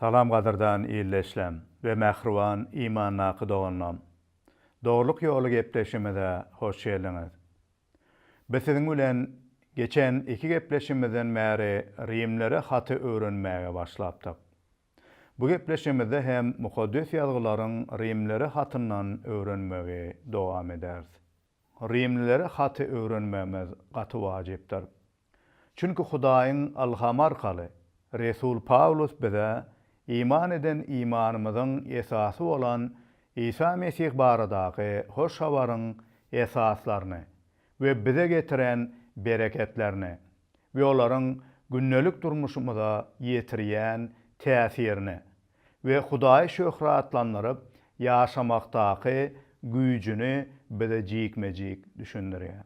Salam gadyrdan ildeşlem we mähriban imandaky doganlam. Dogrulyk ýoly gepleşimize hoş geldiňiz. Biz siziň bilen geçen iki gepleşimizden bäri rimlere haty öwrenmäge başlapdyk. Bu gepleşimizde hem Mukaddes Ýazgylaryň rimlere hatyndan öwrenmegi dowam ederis. Rimlilere haty öwrenmegimiz gaty wajypdyr. Çünki Hudaýyň ylhamy arkaly resul Pawlus bize iman eden imanymyzyň esasy bolan Isa Mesih baradaky hoş habaryň esaslaryny we bize getiren bereketlerini we olaryň gündelik durmuşymyza ýetirýän täsirini we Hudaýy şöhratlandyryp ýaşamakdaky güýjüni bize jikme-jik düşündirýär.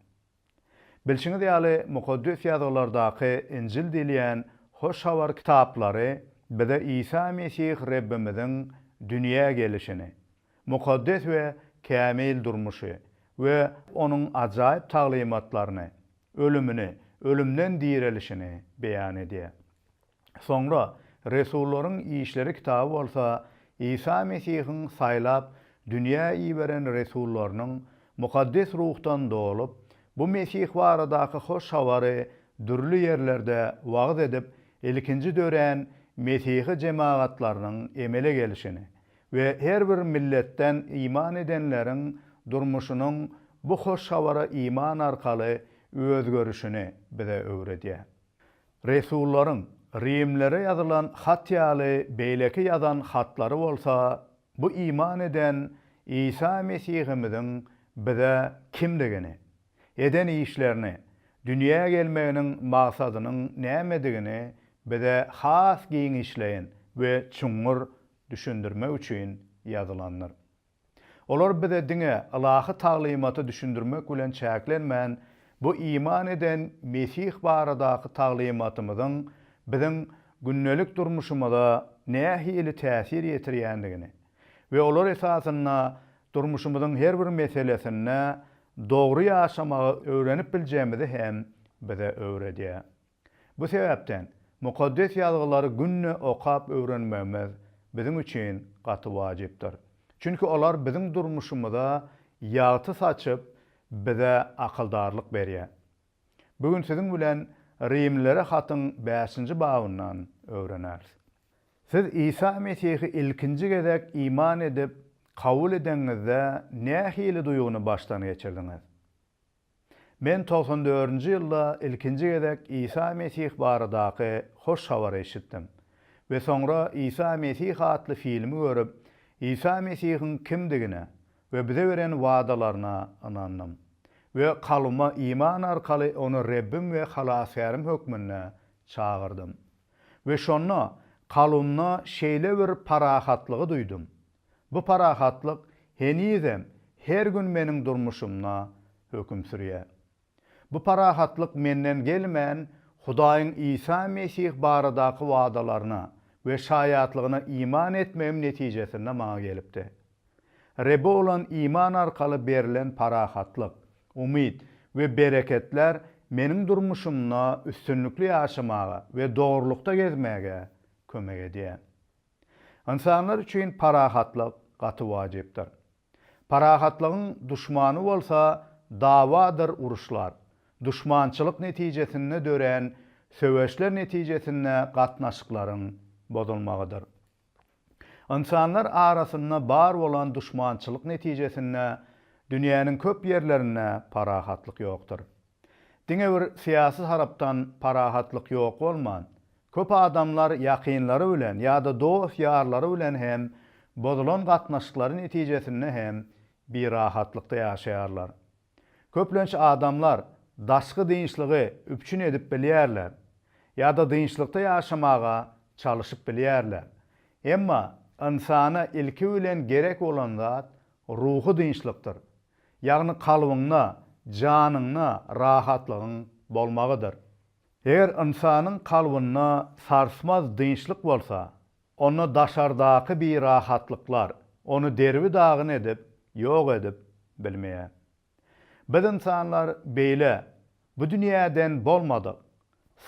Bilşiňiz ýaly, Mukaddes Ýazgylardaky Injil diýilýän Hoş Habar kitaplary bize Isa Mesih Rebbimiziň dünýä gelişini, mukaddes we kämil durmuşy we Onuň ajaýyp taglymatlaryny, ölümini, ölümden direlişini beýan edýär. Soňra Resullaryň işleri kitaby bolsa Isa Mesihiň saýlap dünýä iberen resullarynyň Mukaddes Ruhdan dolup, bu Mesih baradaky hoş habary dürli ýerlerde wagyz edip ilkinji dörän Mesihi jemagatlarynyň emele gelişini we her bir milletden iman edenleriň durmuşynyň bu hoş habara iman arkaly özgerişini bize öwredýär. Resullaryň rimlere ýazylan hat ýaly beýleki ýazan hatlary bolsa bu iman eden Isa Mesihimiziň bize kimdigini, eden işlerini, dünýä gelmeginiň maksadynyň nämedigini bize has giňişleýin we çuňňur düşündirmek üçin ýazylandyr. Olar bize diňe ylahy taglymaty düşündirmek bilen çäklenmän, bu iman eden Mesih baradaky taglymatymyzyň biziň gündelik durmuşymyza nähili täsir ýetirýändigini we olar esasynda durmuşymyzyň her bir meselesinde dogry ýaşamagy öwrenip biljegimizi hem bize öwredýär. Bu sebäpden Mukaddes Ýazgylary günde okap öwrenmegimiz biziň üçin gaty wajypdyr. Çünki olar biziň durmuşymyza ýagty saçyp, bize akyldarlyk berýär. Bu gün siziň bilen Rimlilere hatyň bäşinji babyndan öwreneris. Siz Isa Mesihi ilkinji gezek iman edip, kabul edeniňizde nähili duýgyny başdan geçirdiňiz? Men togsan dördünji ýylda ilkinji gezek Isa Mesih baradaky hoş habary eşitdim we soňra Isa Mesih atly filmi görüp, Isa Mesihiň kimdigine we bize beren wadalaryna ynandym we kalbyma iman arkaly Ony Rebbim we Halasgärim hökmünde çagyrdym. We şonda kalbymda şeýle bir parahatlygy duýdum, Bu parahatlyk henizem her gün meniň durmuşymda höküm sürýär. Bu parahatlyk menden gelmän, Hudaýyň Isa Mesih baradaky wadalaryna we şaýatlygyna iman etmegim netijesinde maňa gelipdi. Rebbe bolan iman arkaly berlen parahatlyk, umyt we bereketler meniň durmuşymda üstünlikli ýaşamaga we dogrulykda gezmäge kömek edýär. Ynsanlar üçin parahatlyk gaty wajypdyr. Parahatlygyň duşmany bolsa dawadyr uruşlar, duşmançylyk netijesinde dörän söweşler netijesinde gatnaşyklaryň bozulmagydyr. Ynsanlar arasynda bar bolan duşmançylyk netijesinde dünýäniň köp ýerlerinde parahatlyk ýokdur. Diňe bir syýasy tarapdan parahatlyk ýok bolman, köp adamlar ýakynlary bilen ýa-da dost-ýarlary bilen hem bozulan gatnaşyklary netijesinde hem birahatlykda ýaşaýarlar. Köplenç adamlar daşky dynçlygy üpjün edip bilýärler ýa-da dynçlykda ýaşamaga çalyşyp bilýärler. Emma ynsana ilki bilen gerek bolan zat ruhy dynçlykdyr. ýagny kalbyňda, janyňda rahatlygyň bolmagydyr. Eger ynsanyň kalbynda sarsmaz dynçlyk bolsa, onda daşardaky birahatlyklar ony derbi-dagyn edip, ýok edip bilmeýär. Biz ynsanlar beýle bu dünýäden bolmadyk,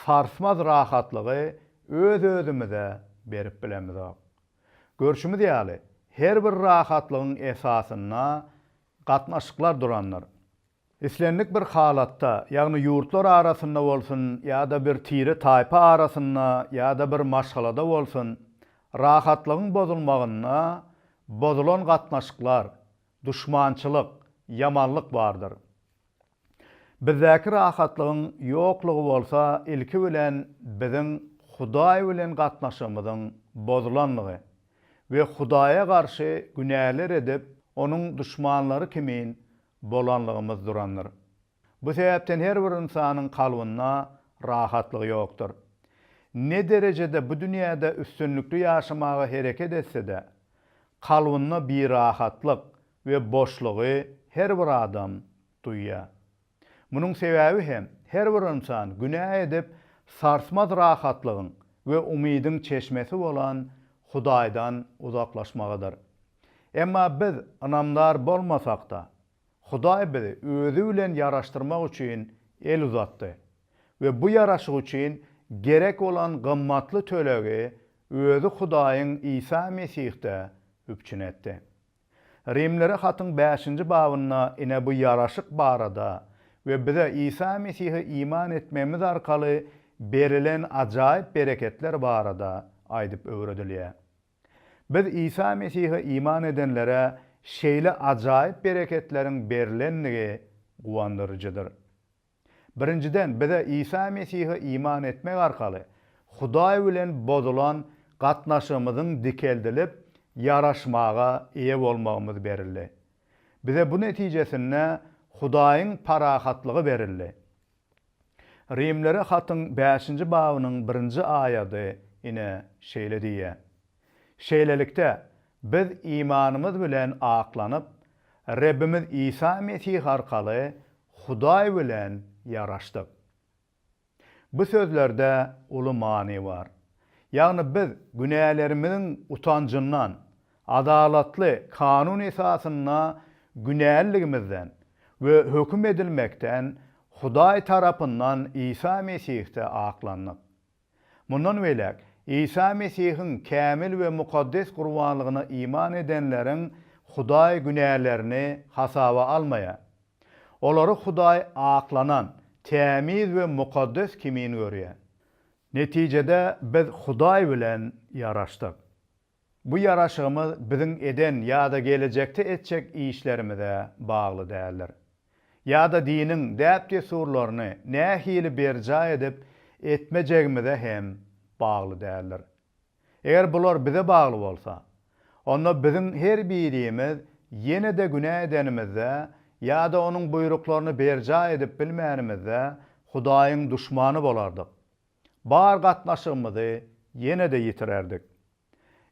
sarsmaz rahatlygy öz-özümize berip bilemizok. Görşümiz ýaly, her bir rahatlygyň esasynda gatnaşyklar durandyr. Islendik bir halatda, ýagny ýurtlar arasynda bolsun ýa-da bir tire-taýpa arasynda ýa-da bir maşgalada bolsun, rahatlygyň bozulmagynda bozulan gatnaşyklar, duşmançylyk, ýamanlyk bardyr. Bizdäki rahatlygyň ýoklugy bolsa ilki bilen biziň Hudaý bilen gatnaşygymyzyň bozulanlygy we Hudaýa garşy günäler edip, Onuň duşmanlary kimin bolanlygymyz durandyr. Bu sebäpden her bir ynsanyň kalbynda rahatlygy ýokdur. Ne derejede bu dünýäde üstünlikli ýaşamaga hereket etse-de, kalbynda birahatlyk, we boşlugy her bir adam duýýar. Munuň sebäbi hem her bir ynsan günä edip, sarsmaz rahatlygyň we umydyň çeşmesi bolan Hudaýdan uzaklaşmagydyr. Emma biz ynamdar bolmasak-da, Hudaý bizi Özi bilen ýaraşdyrmak üçin el uzatdy we bu ýaraşyk üçin gerek bolan gymmatly tölegi Özi Hudaýyň Isa Mesihde üpjün etdi. Rimlere hatyň bäşinji babynda ine bu ýaraşyk barada we bize Isa Mesihe iman etmegimiz arkaly berilen ajaýyp bereketler barada aýdyp öwredilýär. Biz Isa Mesihe iman edenlere şeýle ajaýyp bereketleriň berlendigi guwandyryjydyr. Birinjiden, bize Isa Mesihe iman etmek arkaly Hudaý bilen bozulan gatnaşygymyzyň dikeldilip, ýaraşmaga eýe bolmagymyz berildi. Bize bu netijesinde Hudaýyň parahatlygy berildi. Rimlere hatyň bäşinji babynyň birinji aýady ine, şeýle diýýär. Şeýlelikde, biz imanymyz bilen aklanyp, Rebbimiz Isa Mesih arkaly Hudaý bilen ýaraşdyk. Bu sözlerde uly many bar. Ýagny biz günälerimiziň utanjyndan, adalatly kanun esasynda günäliligimizden we höküm edilmekden Hudaý tarapyndan Isa Mesihde aklandyk. Mundan beýläk, Isa Mesihiň kämil we mukaddes gurbanlygyna iman edenleriň Hudaý günälerini hasaba almaýar. Olary Hudaý aklanan, tämiz we mukaddes kimin görýär. Netijede biz Hudaý bilen ýaraşdyk. Bu ýaraşygymyz biziň eden ýa-da gelejekde etjek işlerimize bagly däldir. Ýa-da diniň däp-dessurlaryny nähili berjaý edip etmejegimize hem bagly däldir. Eger bular bize bagly bolsa, onda biziň her birimiz ýene-de günä edenimizde ýa-da Onuň buýruklaryny berjaý edip bilmänimizde Hudaýyň duşmany bolardyk. bar gatnaşygymyzy ýene-de ýitirerdik.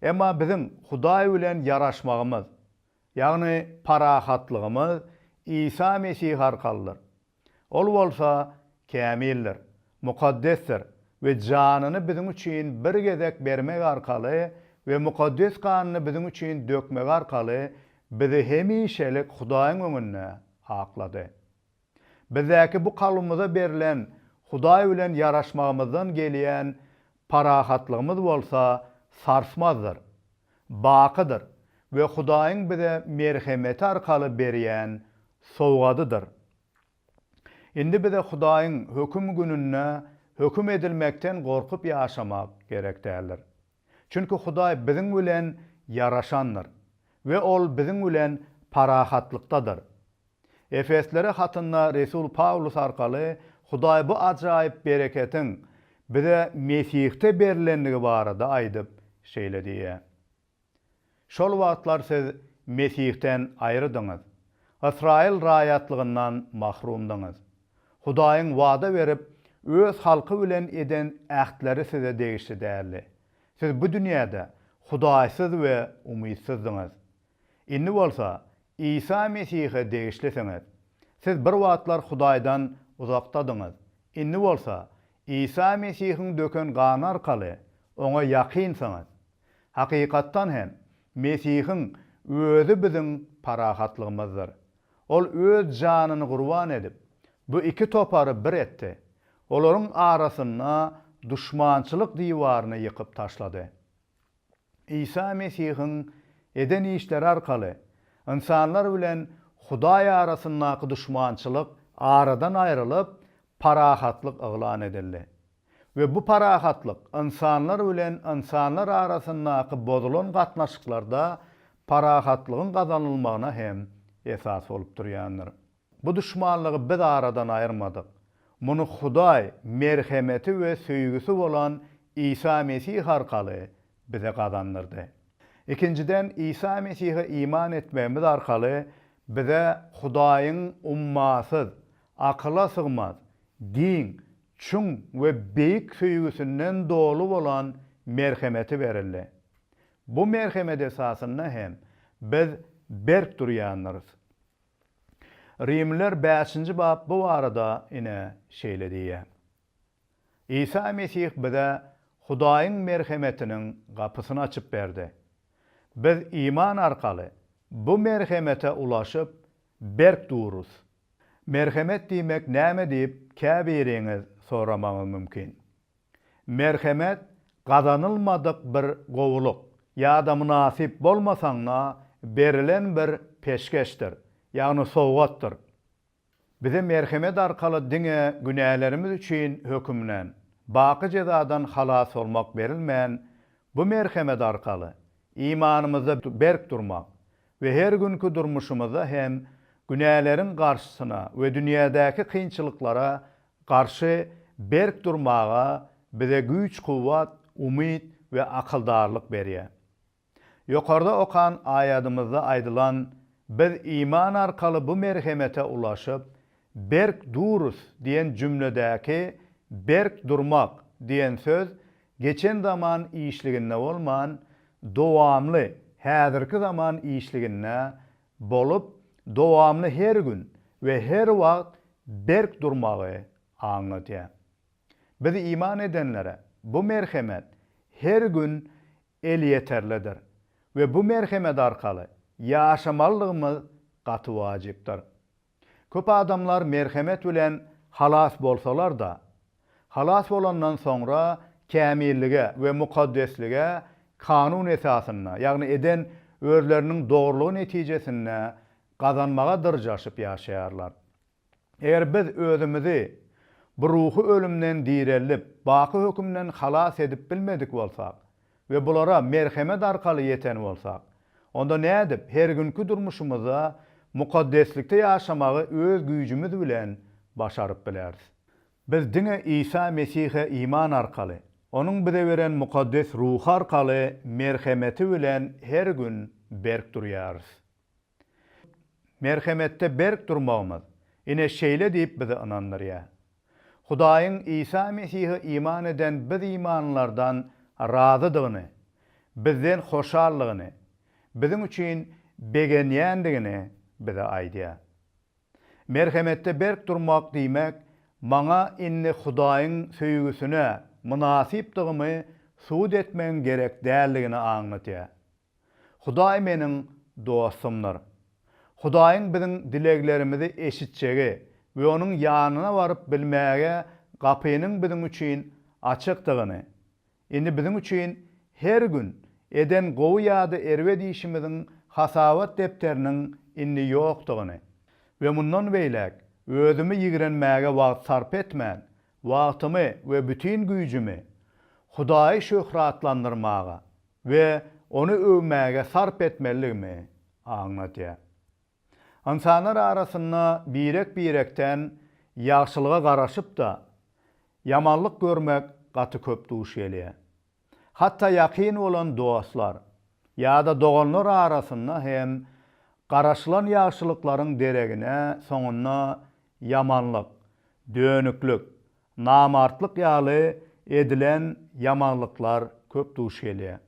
Emma biziň Hudaý bilen ýaraşmagymyz, ýagny parahatlygymyz Isa Mesih arkalydyr. Ol bolsa kämildir, mukaddesdir we janyny biziň üçin bir gezek bermegi arkaly we mukaddes ganyny biziň üçin dökmegi arkaly bizi hemişelik Hudaýyň öňünde aklady. Bizdäki bu kalbymyza berlen Hudaý bilen ýaraşmagymyzdan gelýän parahatlygymyz bolsa sarsmazdyr, bakydyr we Hudaýyň bize merhemeti arkaly berýän sowgadydyr. Indi bize Hudaýyň höküm gününde höküm edilmekden gorkup ýaşamak gerek däldir. Çünki Hudaý biziň bilen ýaraşandyr we Ol biziň bilen parahatlykdadyr. Efeslere hatynda resul Pawlus arkaly Hudaý bu ajaýyp bereketiň bize Mesihde berlendigi barada aýdyp, şeýle diýýär, Şol wagtlar siz Mesihden aýrydyňyz, Ysraýyl raýatlygyndan mahrumdyňyz. Hudaýyň wada berip, öz halky bilen eden ähtleri size degişli däldi. Siz bu dünýäde hudaýsyz we umytsyzdyňyz. Indi bolsa Isa Mesihe degişlisiňiz. Siz bir wagtlar Hudaýdan uzakdadyňyz. Indi bolsa Isa Mesihiň döken gany arkaly Oňa ýakynsyňyz. Hakykatdan hem, Mesihiň Özi biziň parahatlygymyzdyr. Ol Öz janyny gurban edip, bu iki topary bir etdi. Olaryň arasynda duşmançylyk diwaryny ýykyp taşlady. Isa Mesihiň eden işleri arkaly ynsanlar bilen Hudaý arasyndaky duşmançylyk aradan aýrylyp, parahatlyk yglan edildi. We bu parahatlyk ynsanlar bilen ynsanlar arasyndaky bozulan gatnaşyklarda parahatlygyň gazanylmagyna hem esas bolup durýandyr. Bu duşmanlygy biz aradan aýyrmadyk. Muny Hudaý merhemeti we söýgüsi bolan Isa Mesih arkaly bize gazandyrdy. Ikinjiden, Isa Mesihe iman etmegimiz arkaly bize Hudaýyň ummasyz, akyla sygmaz, giň, çuň we beýik söýgüsinden doly bolan merhemeti berildi. Bu merhemet esasynda hem biz berk durýandyrys. Rimliler bäşinji bap bu barada ine şeýle diýýär, Isa Mesih bize Hudaýyň merhemetiniň gapysyny açyp berdi. Biz iman arkaly bu merhemete ulaşyp, berk durus. Merhemet diýmek näme diýip käbiriňiz soramagy mümkin. Merhemet gazanylmadyk bir gowulyk ýa-da mynasyp bolmasaňda berilen bir peşgeşdir, ýagny sowgatdyr. Bize merhemet arkaly diňe günälerimiz üçin hökümden, baky jezadan halas bolmak berilmän, bu merhemet arkaly imanymyzda berk durmak we her günki durmuşymyzda hem günäleriň garşysyna we dünýädäki kynçylyklara garşy berk durmaga bize güýç-kuwwat, umyt we akyldarlyk berýär. Ýokarda okan aýadymyzda aýdylan Biz iman arkaly bu merhemete ulaşyp, berk durus diýen jümledäki berk durmak diýen söz geçen zaman işliginde bolman, dowamly häzirki zaman işliginde bolup, dowamly her gün we her wagt berk durmagy aňladýar. Biz iman edenlere bu merhemet her gün elýeterlidir we bu merhemet arkaly ýaşamalydygymyz gaty wajypdyr. Köp adamlar merhemet bilen halas bolsalar-da, halas bolandan soňra kämillige we mukaddeslige kanun esasynda, ýagny eden özleriniň dogrulygy netijesinde gazanmaga dyrjaşyp ýaşaýarlar. Eger biz özümizi bu ruhy ölümden direldip, baky hökümden halas edip bilmedik bolsak, we bulara merhemet arkaly ýeten bolsak, onda nädip her günki durmuşymyzda mukaddeslikde ýaşamagy öz güýjümiz bilen başaryp bileris? Biz diňe Isa Mesihe iman arkaly, Onuň bize beren mukaddes ruhy arkaly merhemeti bilen her gün berk durýarys. Merhemetde berk durmagymyz, ine, şeýle diýip bizi ynandyrýar. Hudaýyň Isa Mesihe iman eden biz imanlylardan razydygyny, bizden hoşallygyny, biziň üçin begenýändigini bize aýdýar. Merhemetde berk durmak diýmek, maňa indi Hudaýyň söýgüsine mynasypdygymy subut etmegiň gerek däldigini aňladýar. Hudaý meniň dostumdyr. Hudaýyň biziň dileglerimizi eşitjegi we Onuň ýanyna baryp bilmäge gapynyň biziň üçin açykdygyny, indi biziň üçin her gün eden gowy ýa-da erbet işimiziň hasabat depderiniň indi ýokdugyny we mundan beýläk özümi ýigrenmäge wagt sarp etmän, wagtymy we bütin güýjümi Hudaýy şöhratlandyrmaga we ony öwmäge sarp etmelidigimi aňladýar. Ynsanlar arasynda birek-birekden ýagşylyga garaşyp-da, ýamanlyk görmek gaty köp duş gelýär. Hatda ýakyn bolan dostlar ýa-da doganlar arasynda hem garaşylan ýagşylyklaryň deregine soňunda ýamanlyk, dönüklik, Namartlyk ýaly edilen ýamanlyklar köp duş gelýär.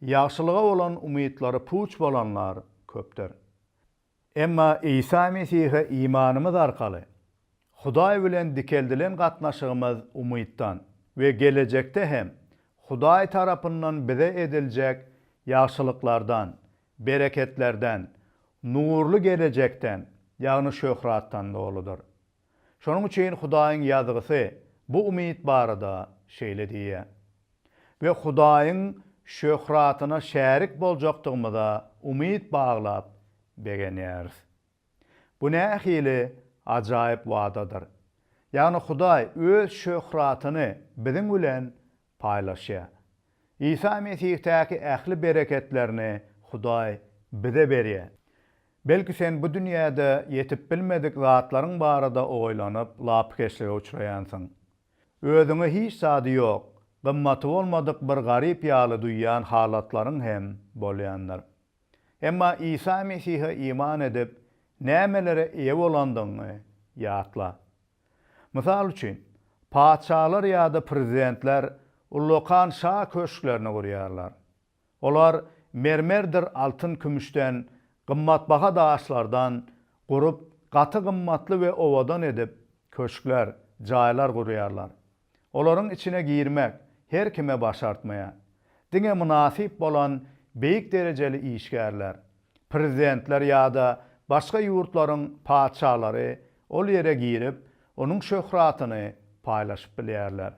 Ýagşylyga bolan umytlary puç bolanlar köpdür. Emma Isa Mesihe imanymyz arkaly, Hudaý bilen dikeldilen gatnaşygymyz umytdan we gelejekde hem Hudaý tarapyndan bize ediljek ýagşylyklardan, bereketlerden, nurly gelejekden, ýagny şöhratdan doludyr. Şonuň üçin Hudaýyň Ýazgysy bu umyt barada şeýle diýýär, We Hudaýyň şöhratyna şärik boljakdygymyza umyt baglap begenýäris. Bu nähili ajaýyp wadadyr! Ýagny Hudaý Öz şöhratyny biziň bilen paýlaşýar. Isa Mesihdäki ähli bereketlerini Hudaý bize berýär. Belki sen bu dünýäde ýetip bilmedik zatlaryň barada oýlanyp, lapykeçlige uçraýansyň. Özüňi hiç zady ýok, gymmaty bolmadyk bir garyp ýaly duýýan halatlaryň hem bolýandyr. Emma Isa Mesihe iman edip, nämelere eýe bolandygyňy ýatla. Mysal üçin, patyşalar ýa-da prezidentler ullakan şa köşklerini gurýarlar. Olar mermerdir altyn-kümüşden, gymmatbaha daşlardan gurup, gaty gymmatly we owadan edip, köşkler, jaýlar gurýarlar. Olaryň içine girmek her kime başartmaýar. Diňe mynasyp bolan beýik derejeli işgärler, prezidentler ýa-da başga ýurtlaryň patyşalary ol ýere girip, onuň şöhratyny paýlaşyp bilýärler.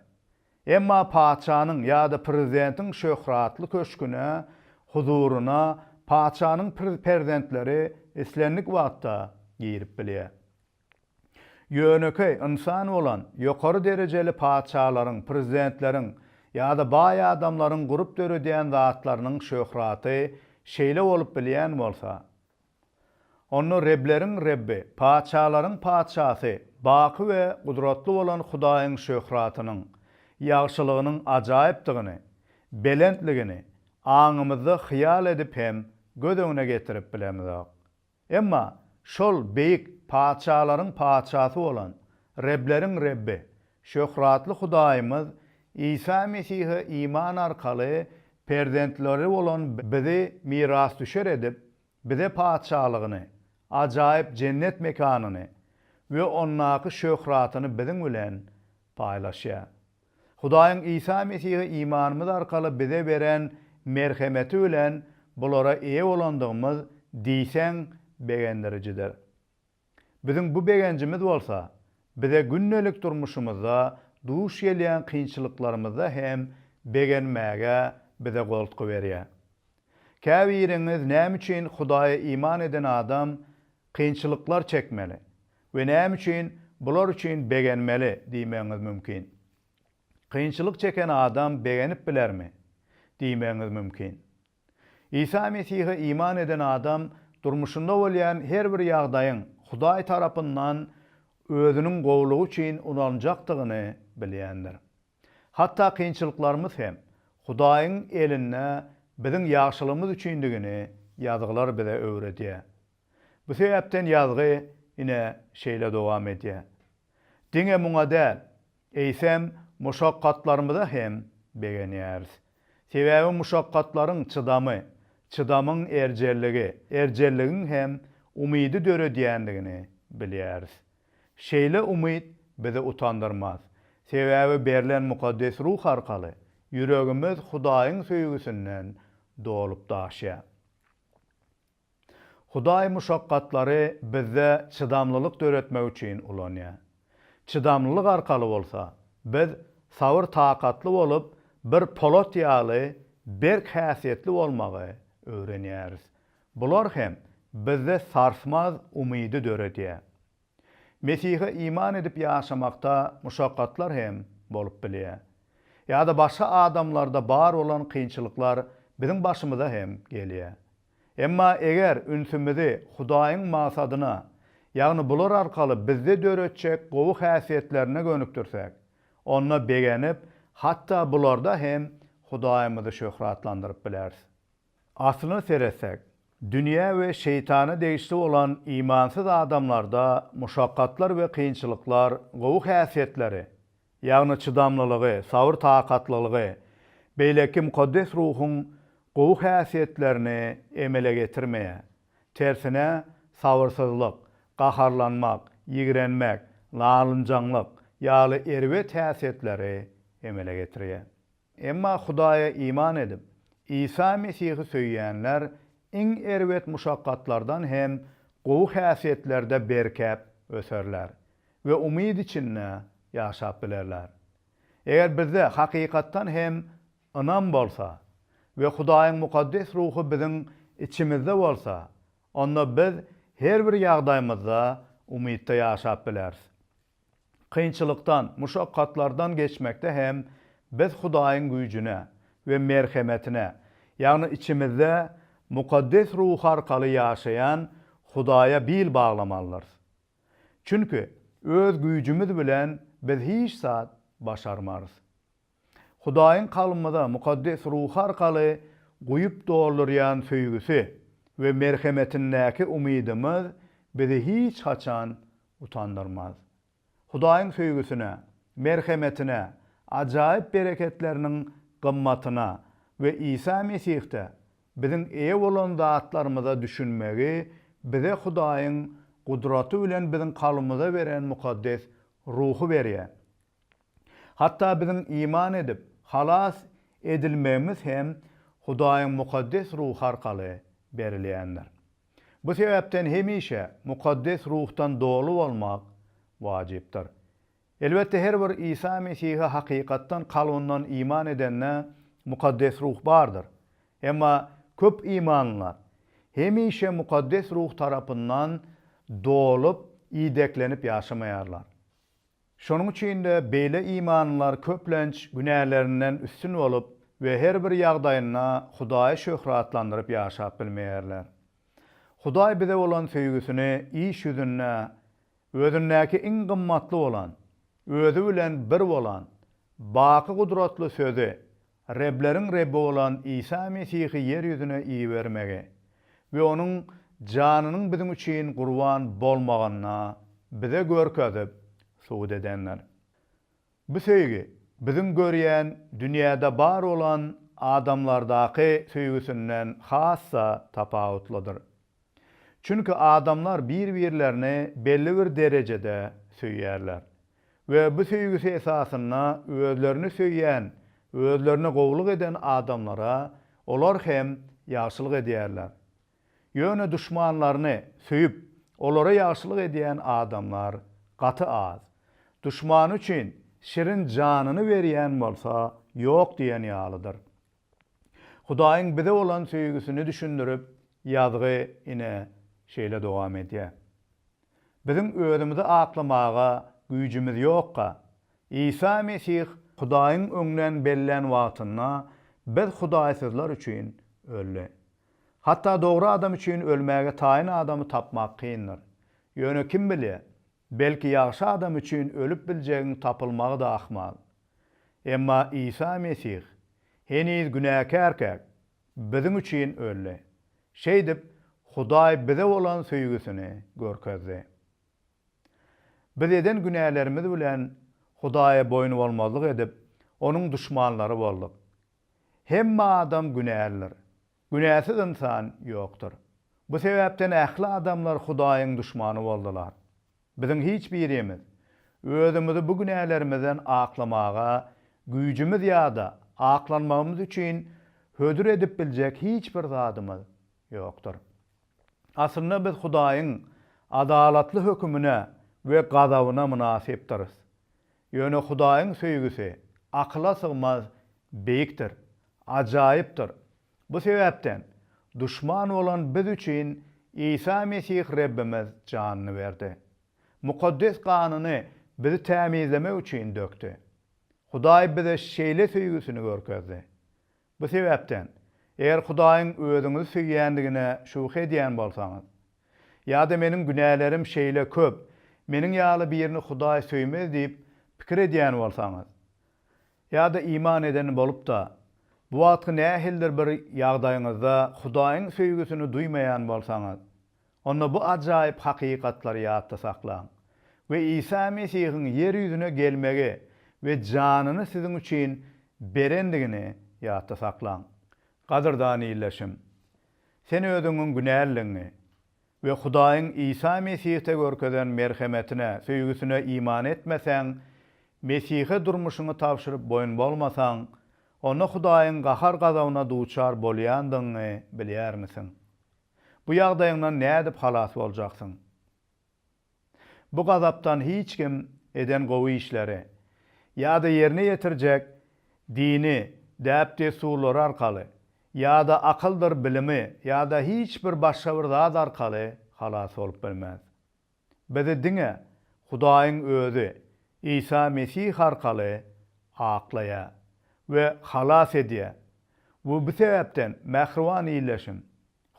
Emma patyşanyň ýa-da prezidentiň şöhratly köşgüne, huzuryna patyşanyň perzentleri islendik wagtda girip bilýär. Ýönekeý ynsan bolan ýokary derejeli patyşalaryň, prezidentleriň ýa-da baý adamlaryň gurup döredýän zatlarynyň şöhraty şeýle bolup bilýän bolsa, onda Rebleriň Rebbi, patyşalaryň Patyşasy, baky we gudratly bolan Hudaýyň şöhratynyň, ýagşylygynyň ajaýypdygyny, belentligini aňymyzda hyýal edip hem göz öňüne getirip bilemizok. Emma şol beýik patyşalaryň Patyşasy bolan, rebleriň Rebbi, şöhratly Hudaýymyz Isa Mesihe iman arkaly perzentleri bolan bizi mirasdüşer edip, bize Patyşalygyny, ajaýyp jennet mekanyny we ondaky şöhratyny biziň bilen paýlaşýar. Hudaýyň Isa Mesihe imanymyz arkaly bize beren merhemeti bilen bulara eýe bolandygymyz diýseň begendirijidir. Biziň bu begenjimiz bolsa, bize gündelik durmuşymyzda duş gelýän kynçylyklarymyzda hem begenmäge bize goltgy berýär. Käbiriňiz näme üçin Hudaýa iman eden adam kynçylyklar çekmeli we näme üçin bular üçin begenmeli diýmegiňiz mümkin. Kynçylyk çeken adam begenip bilermi? diýmegiňiz mümkin. Isa Mesihe iman eden adam durmuşynda bolýan her bir ýagdaýyň Hudaý tarapyndan Özüniň gowulygy üçin ulanjakdygyny bilýändir. Hatda kynçylyklarymyz hem Hudaýyň elinde biziň ýagşylygymyz üçindigini ýazgylar bize öwredýär. Bu sebäpden ýazgy ine şeýle dowam edýär. Diňe muňa däl, eýsem, muşakgatlarymyza hem begenýäris. Sebäbi muşakgatlaryň çydamy, çydamyň erjelligi, erjelligiň hem umydy döredýändigini bilýäris. Şeýle umyt bizi utandyrmaz. Sebäbi berlen Mukaddes Ruh arkaly ýüregimiz Hudaýyň söýgüsinden dolup-daşýar. Hudaý muşakgatlary bizde çydamlylyk döretmek üçin ulanýar. Çydamlylyk arkaly bolsa, biz sabyr-takatly bolup, bir polat ýaly berk häsiýetli bolmagy öwrenýäris. Bular hem bizde sarsmaz umydy döredýär. Mesihe iman edip ýaşamakda muşakgatlar hem bolup bilýär. Ýa-da başga adamlarda bar bolan kynçylyklar biziň başymyza hem gelýär. Emma eger ünsümizi Hudaýyň magsadyna, ýagny bular arkaly bizde döretjek gowy häsiýetlerine gönükdirsek, onda begenip, hatda bularda hem Hudaýymyzy şöhratlandyryp bileris. Aslyna seretsek, dünýä we şeýtana degişli bolan imansyz adamlarda muşakgatlar we kynçylyklar gowy häsiýetleri, ýagny çydamlylygy, sabyr-takatlylygy, beýleki mukaddes ruhuň gowy häsiýetlerini emele getirmeýär. Tersine, sabyrsyzlyk, gaharlanmak, ýigrenmek, nalynjaňlyk ýaly erbet häsiýetleri emele getirýär. Emma Hudaýa iman edip, Isa Mesihi söýýänler iň erbet muşakgatlardan hem gowy häsiýetlerde berkäp öserler we umyt içinde ýaşap bilerler. Eger bizde hakykatdan hem ynam bolsa we Hudaýyň mukaddes ruhy biziň içimizde bolsa, onda biz her bir ýagdaýymyzda umytda ýaşap bileris. Kynçylykdan, muşakgatlardan geçmekde hem biz Hudaýyň güýjüne we merhemetine, ýagny içimizde Mukaddes Ruhy arkaly ýaşaýan Hudaýa bil baglamalydyrys. Çünki öz güýjümiz bilen biz hiç zat başarmarys. Hudaýyň kalbymyza Mukaddes Ruhy arkaly guýup doldurýan söýgüsi we merhemetindäki umydymyz bizi hiç haçan utandyrmaz. Hudaýyň söýgüsine, merhemetine, ajaýyp bereketleriniň gymmatyna we Isa Mesihde biziň eýe bolan zatlarymyza düşünmegi bize Hudaýyň gudraty bilen biziň kalbymyza beren Mukaddes Ruhy berýär. Hatda biziň iman edip, halas edilmegimiz hem Hudaýyň mukaddes ruhy arkaly berilýändir. Bu sebäpden hemişe mukaddes ruhdan doly bolmak wajypdyr. Elbetde, her bir Isa Mesihe hakykatdan kalbyndan iman edende mukaddes ruh bardyr. Emma köp imanlylar hemişe mukaddes ruh tarapyndan dolup, ideklenip ýaşamaýarlar. Şonuň üçin-de beýle imanlylar köplenç günälerinden üstün bolup we her bir ýagdaýynda Hudaýy şöhratlandyryp ýaşap bilmeýärler. Hudaý bize bolan söýgüsini iş ýüzünde Özündäki iň gymmatly bolan, Özi bilen bir bolan, baky gudratly Sözi, Rebleriň Rebbi bolan Isa Mesihi ýer ýüzüne ibermegi we Onuň janynyň biziň üçin gurban bolmagyny bize görkezip, subut edendir. Bu söýgi biziň görýän dünýäde bar bolan adamlardaky söýgüsinden has-da tapawutlydyr. Çünki adamlar bir-birlerini belli bir derejede söýýärler we bu söýgüsi esasynda özlerini söýýän, özlerine gowulyk eden adamlara olar hem ýagşylyk edýärler. Ýöne duşmanlaryny söýüp, olara ýagşylyk edýän adamlar gaty az. Duşmany üçin şirin janyny berýän bolsa ýok diýen ýalydyr. Hudaýyň bize bolan söýgüsini düşündirip, ýazgy ine, şeýle dowam edýär. Biziň özümizi aklamaga güýjümiz ýokka, Isa Mesih Hudaýyň öňden bellän wagtynda biz hudaýsyzlar üçin öldi. Hatda dogry adam üçin ölmäge taýyn adamy tapmak kyndyr. Ýöne kim bilýär, Belki ýagşy adam üçin ölüp biljegiň tapylmagy-da ahmal. Emma Isa Mesih heniz günäkärkäk biziň üçin öldi. Şeýdip, Hudaý bize bolan söýgüsini görkezdi. Biz eden günälerimiz bilen Hudaýa boýnubolmazlyk edip, Onuň duşmanlary bolduk. Hemme adam günälidir. Günäsiz ynsan ýokdur. Bu sebäpden ähli adamlar Hudaýyň duşmany boldular. Biziň hiç birimiz özümizi bu günälerimizden aklamaga güýjümiz ýa-da aklanmagymyz üçin hödür edip biljek hiç bir zadymyz ýokdur. Aslynda biz Hudaýyň adalatly hökümine we gazabyna mynasypdyrys. Ýöne Hudaýyň söýgüsi akyla sygmaz beýikdir, ajaýypdyr. Bu sebäpden, duşman bolan biz üçin Isa Mesih Rebbimiz janyny berdi. Mukaddes ganyny bizi tämizlemek üçin dökdi. Hudaý bize şeýle söýgüsini görkezdi. Bu sebäpden, eger Hudaýyň özüňizi söýýändigine şübhe edýän bolsaňyz, ýa-da meniň günälerim şeýle köp, meniň ýaly birini Hudaý söýmez diýip pikir edýän bolsaňyz, ýa-da iman eden bolup-da, bu wagtky nähilidir bir ýagdaýyňyzda Hudaýyň söýgüsini duýmaýan bolsaňyz, Onda bu ajaýyp hakykatlary ýatda saklaň we Isa Mesihiň ýer ýüzüne gelmegi we janyny siziň üçin berendigini ýatda saklaň. Gadyrdan ildeşim! Sen özüňiň günäliligiňi we Hudaýyň Isa Mesihde görkezen merhemetine, söýgüsine iman etmeseň, Mesihe durmuşyňy tabşyryp boýun bolmasaň, onda Hudaýyň gahar-gazabyna duçar bolýandygyňy bilýärmisiň? Bu ýagdaýyňdan nädip halas boljaksyň? Bu gazapdan hiç kim eden gowy işleri ýa-da ýerine ýetirjek dini däp-dessurlary arkaly ýa-da akyldyr bilimi ýa-da hiç bir başga bir zat arkaly halas bolup bilmez. Bizi diňe Hudaýyň Özi Isa Mesih arkaly aklaýar we halas edýär we bu sebäpden mähriban Ildeşim,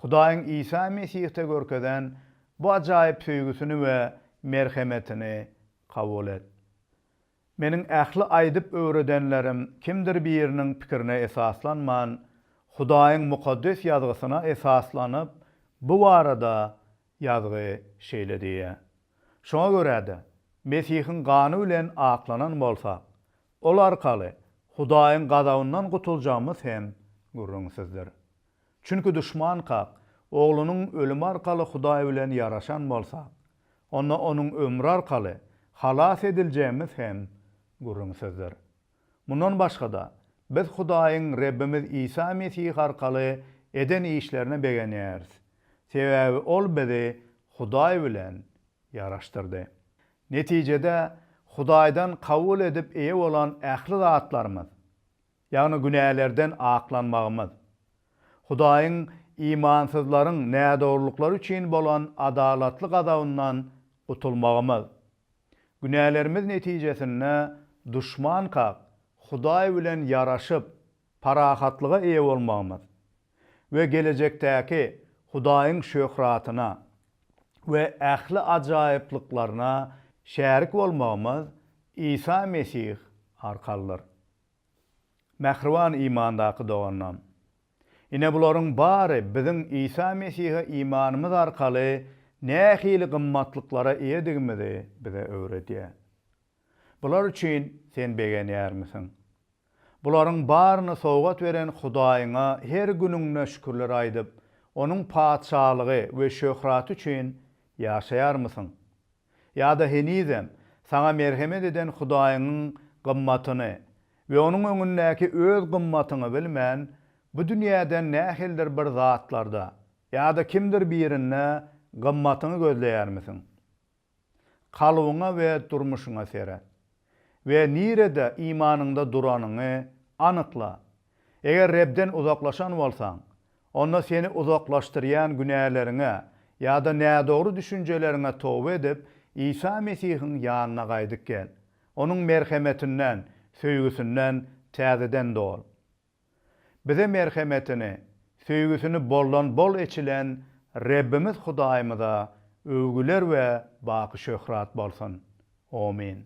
Hudaýyň Isa Mesihde görkezen bu ajaýyp söýgüsini we merhemetini kabul et. Meniň ähli aýdyp öwredenlerim kimdir biriniň pikirine esaslanman, Hudaýyň Mukaddes Ýazgysyna esaslanyp, bu barada Ýazgy şeýle diýýär. Şoňa görä-de, Mesihiň gany bilen aklanan bolsak, ol arkaly Hudaýyň gazabyndan gutuljagymyz hem gürrüňsizdir. Çünki duşmankak oglunyň ölümi arkaly Hudaý bilen ýaraşan bolsak, onda onuň ömri arkaly halas ediljegimiz hem gürrüňsizdir. Mundan başga-da, biz Hudaýyň Rebbimiz Isa Mesih arkaly eden işlerine begenýäris, sebäbi ol bizi Hudaý bilen ýaraşdyrdy. Netijede, Hudaýdan kabul edip eýe bolan ähli zatlarymyz, ýagny günälerden aklanmagymyz, Hudaýyň imansyzlaryň nädogrulyklary üçin bolan adalatly gazabyndan gutulmagymyz. Günälerimiz netijesinde duşmankak Hudaý bilen ýaraşyp, parahatlyga eýe bolmagymyz we gelejekdäki Hudaýyň şöhratyna we ähli ajaýyplyklaryna şärik bolmagymyz Isa Mesih arkalydyr. Mähriban imandaky doganlarym! Ine bularyň bary biziň Isa Mesihe imanymyz arkaly nähili gymmatlyklara eýedigimizi bize öwredýär. Bular üçin sen begenýärmisiň? Bularyň baryny sowgat beren Hudaýyňa her günüňde şükürler aýdyp, Onuň Patyşalygy we şöhraty üçin ýaşaýarmysyň? ýa-da henizem saňa merhemet eden Hudaýyňyň gymmatyny we Onuň öňündäki öz gymmatyňy bilmän, bu dünýäden nähilidir bir zatlarda ýa-da kimdir birinde gymmatyňy gözleýärmisiň? Kalbyňa we durmuşyňa seret we nirede imanyňda duranyňy anykla. Eger Rebden uzaklaşan bolsaň, Onda seni uzaklaşdyrýan günäleriňe ýa-da nädogry düşünjeleriňe toba edip, Isa Mesihiň ýanyna gaýdyp gel. Onuň merhemetinden, söýgüsinden täzeden dol. Bize merhemetini, söýgüsini boldan-bol eçilen Rebbimiz Hudaýymyza öwgüler we baky şöhrat bolsun! Omyn.